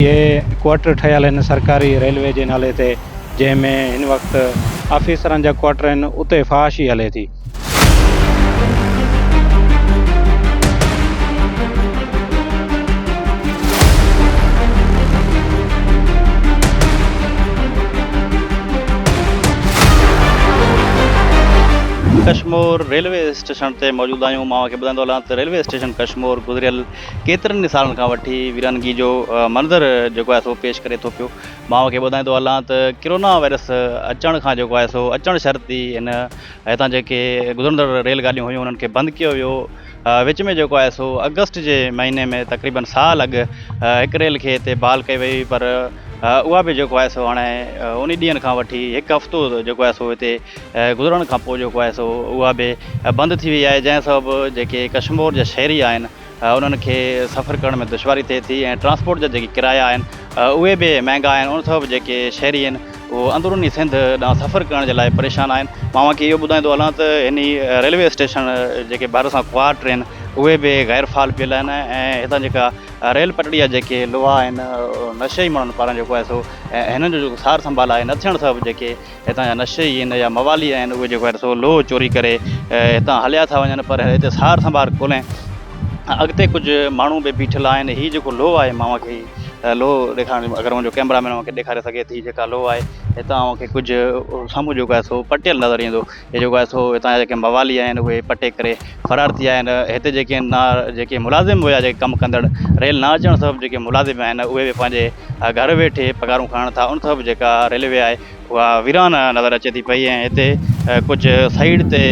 اهي ڪوارٽر ٺهيل هن سرڪاري ريلوي جي نالي تي جنهن ۾ هن وقت آفيسرن جا ڪوارٽر آهن اتي فحاشي هلي ٿي. ڪشمور ريلوي اسٽيشن تي موجود آهيون مان اوهان کي ٻڌائيندو هلان ته ريلوي اسٽيشن ڪشمور گذريل ڪيترن ئي سالن کان وٺي ويرانگي جو منظر جيڪو آهي سو پيش ڪري ٿو پيو. مان اوهان کي ٻڌائيندو هلان ته ڪرونا وائرس اچڻ کان جيڪو آهي سو اچڻ شرط ئي هن هتان جيڪي گذرندڙ ريل گاڏيون هيون انهن کي بند ڪيو ويو. وچ ۾ جيڪو آهي سو آگسٽ جي مهيني ۾ تقريبن سال اڳ هڪ ريل کي هتي بحال ڪئي وئي هئي پر اها به جيڪو آهي سو هاڻي انهي ڏينهن کان وٺي هڪ هفتو جيڪو آهي سو هتي گذرڻ کان پوء جيڪو آهي سو اها به بند ٿي وئي آهي جنهن سبب جيڪي ڪشمور جا شهري آهن انهن کي سفر ڪرڻ ۾ دشواري ٿئي ٿي ۽ ٽرانسپورٽ جا جيڪي ڪرايا آهن اهي به مهنگا آهن ان سبب جيڪي شهري آهن اهو اندروني سنڌ ڏانهن سفر ڪرڻ جي لاء پريشان آهن مان اوهان کي اهو ٻڌائيندو هلان ته هن ريلوي اسٽيشن جيڪي ڀر سان خوار ٽرين اهي به غير فعال پيل آهن ۽ هتان جيڪا ريل پٽڙي جا جيڪي لوها آهن نشئي ماڻهن پاران جيڪو آهي سو هنن جو جيڪو سار سنڀال آهي نه ٿيڻ سبب جيڪي هتان جا نشي ئي ان جا موالي آهن، اهي جيڪو آهن سو لوهه چوري ڪري هتان هليا ٿا وڃن پر هتي سار سنڀار ڪونهي ۽ اڳتي ڪجهه ماڻهو به بيٺل آهن، هي جيڪو لوهه آهي مان اوهان کي هي لوهه ڏيکارڻ اگر منهنجو ڪيمرا مين اوهان کي ڏيکاري سگهي ٿي جيڪا لوهه آهي هتان اوهان کي ڪجهه سامهون جيڪو آهي سو پٽيل نظر ايندو هي جيڪو آهي سو هتان جا جيڪي موالي آهن اهي پٽي ڪري فرار ٿي ويا آهن هتي جيڪي نا جيڪي ملازم هيا جيڪي ڪم ڪندڙ ريل نه اچڻ سبب جيڪي ملازم آهن اهي به پنهنجي گهر ويٺي پگهارون کڻن ٿا ان سبب جيڪا ريلوي آهي اها ويران نظر اچي ٿي پئي ۽ هتي ڪجهه سائيڊ تي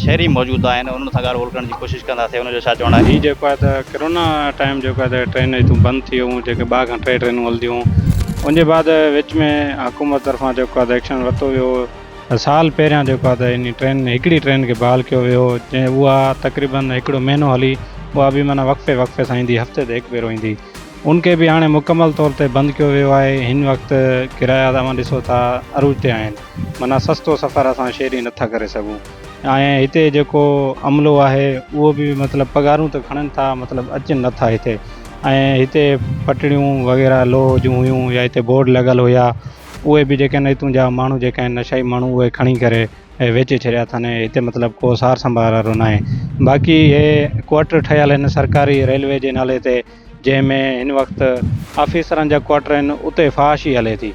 شهري موجود آهن انهن سان ڳالهه ٻولهه ڪرڻ جي ڪوشش ڪنداسين انهن جو ڇا چوڻ آهي. هي جيڪو آهي ته ڪرونا ٽائيم جيڪو آهي ته ٽرينون هتون بند ٿي ويون جيڪي ٻه کان ٽي ٽرينون هلنديون هيون ان جي بعد وچ ۾ حڪومت طرفان جيڪو آهي ته ايڪشن ورتو ويو هو سال پهريان جيڪو آهي ته انهي ٽرين هڪڙي ٽرين کي بحال ڪيو ويو هو جنهن اها تقريبن هڪڙو مهينو هلي اها به معنيٰ وقفي وقفي سان ايندي هفتي تي هڪ ڀيرو ايندي ان کي به هاڻي مڪمل طور تي بند ڪيو ويو آهي هن وقت ڪرايا اوهان ڏسو ٿا عروج تي آهن معنيٰ سستو سفر اسان شهري نه ٿا ڪري سگهون ۽ هتي جيڪو عملو آهي اهو به مطلب پگهارون ته کڻن ٿا مطلب اچن نه ٿا هتي ۽ هتي پٽڙيون وغيره لوهه جون هيون يا هتي بورڊ لڳل هيا اهي به جيڪي هتون جا ماڻهو جيڪي آهن نشائي ماڻهو اهي کڻي ڪري ويچي ڇڏيا اٿن ۽ هتي مطلب ڪو سار سنڀار وارو ناهي باقي هي ڪوارٽر ٺهيل آهن سرڪاري ريلوي جي نالي تي جنهن ۾ هن وقت آفيسرن جا ڪوارٽر آهن اتي فحاشي هلي ٿي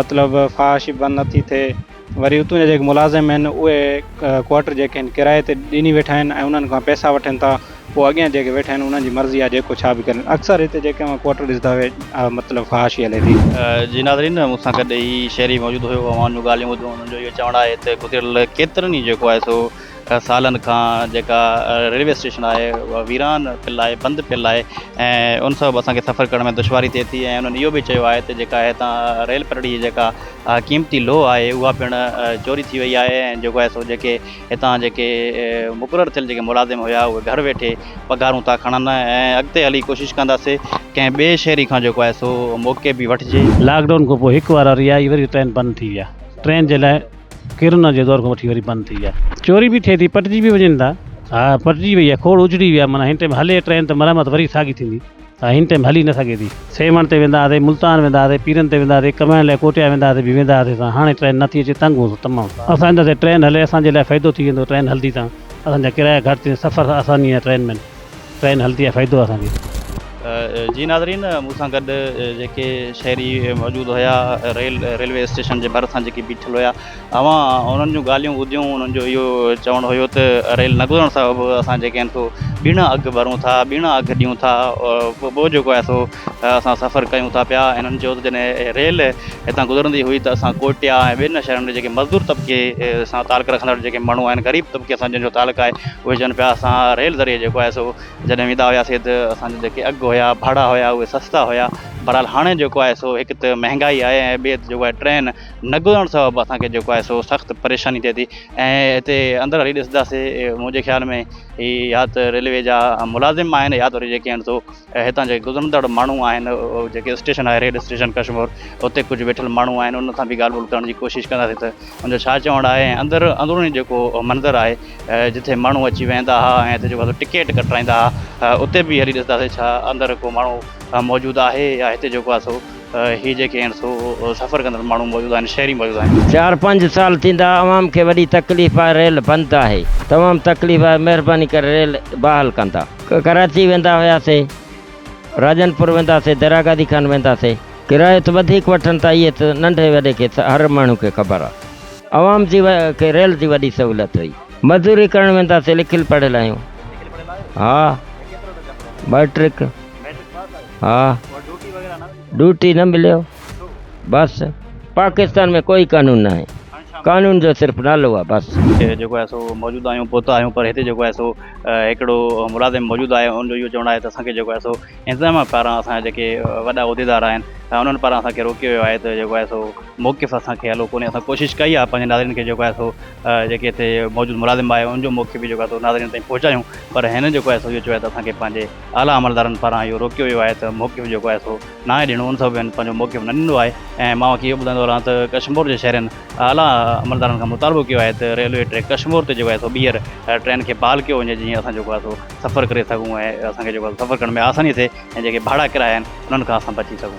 مطلب فحاشي بند نه ٿي ٿئي وري اتون جا جيڪي ملازم آهن اهي ڪوارٽر جيڪي آهن ڪرايي تي ڏني ويٺا آهن ۽ انهن کان پئسا وٺن ٿا پوء اڳيان جيڪي ويٺا آهن انهن جي مرضي آهي جيڪو ڇا به ڪرن اڪثر هتي جيڪي اوهان ڪوارٽر ڏسندا اهي مطلب فحاشي هلي ٿي. جي ناظرين مون سان گڏ هي شهري موجود هيو اوهان جون ڳالهيون ٻڌيون انهن جو اهو چوڻ آهي ته گذريل ڪيترن ئي جيڪو آهي سو سالن کان جيڪا ريلوي اسٽيشن آهي اها ويران پيل آهي بند پيل آهي ۽ ان سبب اسان کي سفر ڪرڻ ۾ دشواري ٿئي ٿي ۽ انهن اهو به چيو آهي ته جيڪا هتان ريل پٽڙي جي جيڪا قيمتي لوهه آهي اها پڻ چوري ٿي وئي آهي ۽ جيڪو آهي سو جيڪي هتان جيڪي مقرر ٿيل جيڪي ملازم هيا اهي گهر ويٺي پگهارون ٿا کڻن ۽ اڳتي هلي ڪوشش ڪنداسي ڪنهن ٻئي شهري کان جيڪو آهي سو موقعي به وٺجي. لاڪ ڊائون کانپوء هڪ وارا رهايئي وري ٽرين بند ٿي ويا ٽرين جي لاء. ڪرنا جي دور کان وٺي وري بند ٿي آهي. چوري به ٿئي ٿي پٽجي به وڃن ٿا. ها پٽجي وئي آهي کوڙ اجڙي ويا معنيٰ هن ٽيم هلي ٽرين ته مرمت وري ساڳي ٿيندي ها هن ٽيم هلي نه سگهي ٿي. سيوهڻ تي ويندا هئاسي ملتان ويندا هئاسي پيرن تي ويندا هئاسي ڪمائڻ لاء ڪوٽيا ويندا هئاسي به ويندا هئاسي سان هاڻي ٽرين نٿي اچي تنگ هوسون تمام سان اسان اندر تي ٽرين هلي اسان جي لاء فائدو ٿي ويندو ٽرين هلندي تان اسان جا ڪرايا گهٽ ٿي ويندا سفر آساني آهي ٽرين ۾. ٽرين هلتي آهي فائدو آهي اسان کي. جي ناظرين مون سان گڏ جيڪي شهري موجود هيا ريل ريلوي اسٽيشن جي ڀر سان جيڪي بيٺل هيا اوهان انهن جون ڳالهيون ٻڌيون انهن جو اهو چوڻ هيو ته ريل نه گذرڻ سبب اسان جيڪي آهن سو ٻيڻا اگهه ڀرون ٿا ٻيڻا اگهه ڏيون ٿا ٻيو جيڪو آهي سو اسان سفر ڪيون ٿا پيا هنن چيو ته جڏهن ريل هتان گذرندي هئي ته اسان ڪوئٽيا ۽ ٻين شهرن ۾ جيڪي مزدور طبقي سان تعلق رکندڙ جيڪي ماڻهو آهن غريب طبقي سان جن جو تعلق آهي اهي چون پيا اسان ريل ذريعي جيڪو آهي سو جڏهن ويندا هياسي ته اسان جا جيڪي اگهه هيا ڀاڙا هيا اهي سستا هيا بهرحال هاڻي جيڪو آهي سو هڪ ته مهنگائي آهي ۽ ٻي ته جيڪو آهي ٽرين نه گذرڻ سبب اسان کي جيڪو آهي سو سخت پريشاني ٿئي ٿي ۽ هتي اندر هلي ڏسنداسي منهنجي خيال ۾ هي يا ته ريلوي جا ملازم آهن يا ته وري جيڪي آهن سو ۽ هتان جي گذرندڙ ماڻهو آهن جيڪي اسٽيشن آهي ريل اسٽيشن ڪشمور اتي ڪجهه ويٺل ماڻهو آهن انهن سان به ڳالهه ٻولهه ڪرڻ جي ڪوشش ڪنداسين ته ان جو ڇا چوڻ آهي ۽ اندر اندروني جيڪو منظر آهي جتي ماڻهو اچي ويهندا ها ۽ هتي جيڪو ٽڪيٽ ڪٽرائيندا ها اتي به هلي ڏسنداسين ڇا اندر ڪو ماڻهو موجود آهي يا هتي جيڪو آهي سو هي جيڪي آهن سو سفر ڪندڙ ماڻهو موجود آهن شهري موجود آهن. چار پنج سال ٿيندا عوام کي وڏي تڪليف آهي ريل بند آهي تمام تڪليف آهي مهرباني ڪري ريل بحال ڪندا. ڪراچي ويندا هياسي راڄن پور وينداسي دريا گادي کان وينداسي ڪرايو ته وڌيڪ وٺن ٿا اهي ته ننڍي وڏي کي هر ماڻهو کي خبر آهي عوام جي کي ريل جي وڏي سهولت هئي مزوري ڪرڻ وينداسي لکيل پڙهيل آهيون ها مئٽرڪ ها ڊوٽي نه مليو بس پاڪستان ۾ ڪوئي قانون ناهي قانون جو صرف نالو آهي بس. هتي جيڪو آهي سو موجود آهيون پهتا آهيون پر هتي جيڪو آهي سو هڪڙو ملازم موجود آهي ان جو اهو چوڻ آهي ته اسان کي جيڪو آهي سو انتظاميا پاران اسان جا جيڪي وڏا عهديدار آهن انهن پاران اسان کي روڪيو ويو آهي ته جيڪو آهي سو موقف اسان کي هلو ڪونهي اسان ڪوشش ڪئي آهي پنهنجي ناظرين کي جيڪو آهي سو جيڪي هتي موجود ملازم آهي ان جو موقف به جيڪو آهي سو ناظرين تائين پهچايون پر هن جيڪو آهي سو اهو چيو آهي ته اسان کي پنهنجي اعليٰ عملدارن پاران اهو روڪيو ويو آهي ته موقف جيڪو آهي سو ناهي ڏيڻو ان سبب هن پنهنجو موقف نه ڏنو آهي ۽ مان اوهان کي اهو ٻڌائيندو هلان ته ڪشمور جي شهرين اعليٰ عملدارن کان مطالبو ڪيو آهي ته ريلوي ٽريڪ ڪشمور تي جيڪو آهي سو ٻيهر ٽرين کي بحال ڪيو وڃي جيئن اسان جيڪو آهي سو سفر ڪري سگهون ۽ اسان کي جيڪو آهي سفر ڪرڻ ۾ آساني ٿئي ۽ جيڪي ڀاڙا ڪرايا آهن انهن کان اسان بچي سگهون.